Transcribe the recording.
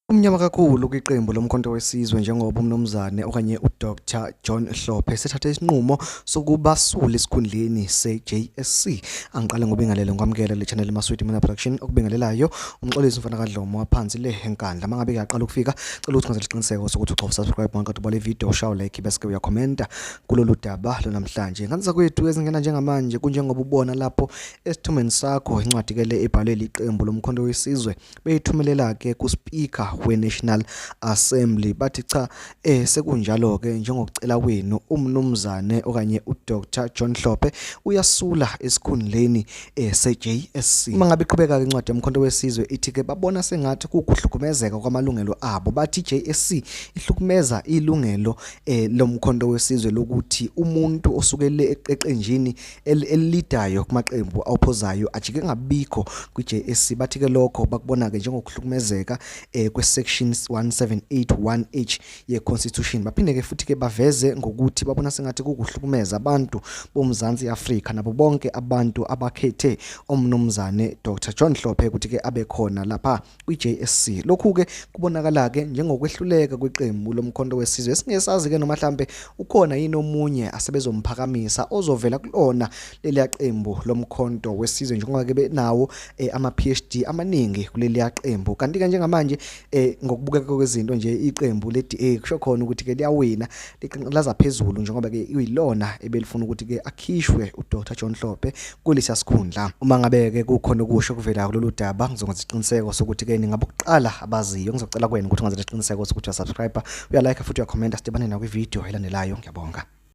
Umnyama kakhulu kwiqembu lomkhonto wesizwe njengoba umnumzane okanye uDr John Hlophe esethathe isinqumo sokuba sule esikhundleni se-JSC. Angiqale ngobingelele ngikwamukele le channel Maswidi Mina Production okubingelelayo umxolisi mfana kaDlomo waphansi le enkandla. Mangabe kuyaqala ukufika cela ukuthi ngenzele isiqiniseko sokuthi ugcofa subscribe bonke kodwa le video shaw like bese ke uyakhomenta kulolu daba lonamhlanje. Nganisa kwethu ezingena njengamanje kunjengoba ubona lapho esithomeni sakho incwadi ke le ebhalwe liqembu lomkhonto wesizwe beyithumelela-ke kuSpeaker we-National Assembly bathi cha eh sekunjalo-ke njengokucela kwenu umnumzane okanye uDr John Hlophe uyasula esikhundleni eh, se-JSC uma ngabe iqhubeka-ke incwadi yomkhonto wesizwe ithi-ke babona sengathi kukuhlukumezeka kwamalungelo abo bathi i-JSC ihlukumeza ilungelo eh, lomkhonto wesizwe lokuthi umuntu osukele eqeqenjini elidayo kumaqembu awuphozayo ajike ngabikho kwi-JSC bathi ke lokho bakubona ke njengokuhlukumezeka eh kwesection 1781H yeConstitution baphinde ke futhi ke baveze ngokuthi babona sengathi kukuhlukumeza abantu boMzansi Afrika nabo bonke abantu abakhethe omnumzane Dr John Hlophe ukuthi ke abe khona lapha kwi-JSC. Lokhu-ke kubonakala-ke njengokwehluleka kweqembu lomkhonto wesizwe esingesazi-ke noma hlampe ukhona yini omunye asebezomphakamisa ozovela kulona leliya qembu lomkhonto wesizwe njengoba-ke benawo um eh, ama-PhD amaningi kuleliya qembu. Kanti-ke njengamanje um ngokubukeka kwezinto nje iqembu le-DA kusho khona ukuthi-ke liyawina liqinqilaza phezulu njengoba ke uyilona ebelifuna ukuthi ke akhishwe uDr John Hlophe kulesa sikhundla uma ngabe ke kukhona okusho kuvela kulolu daba ngizokwenza isiqiniseko sokuthi ke ningabokuqala abaziyo ngizocela kwena ukuthi ungenze isiqiniseko sokuthi uyasubscribe uyalike futhi uyakhomenta sidibane nakwi video elandelayo ngiyabonga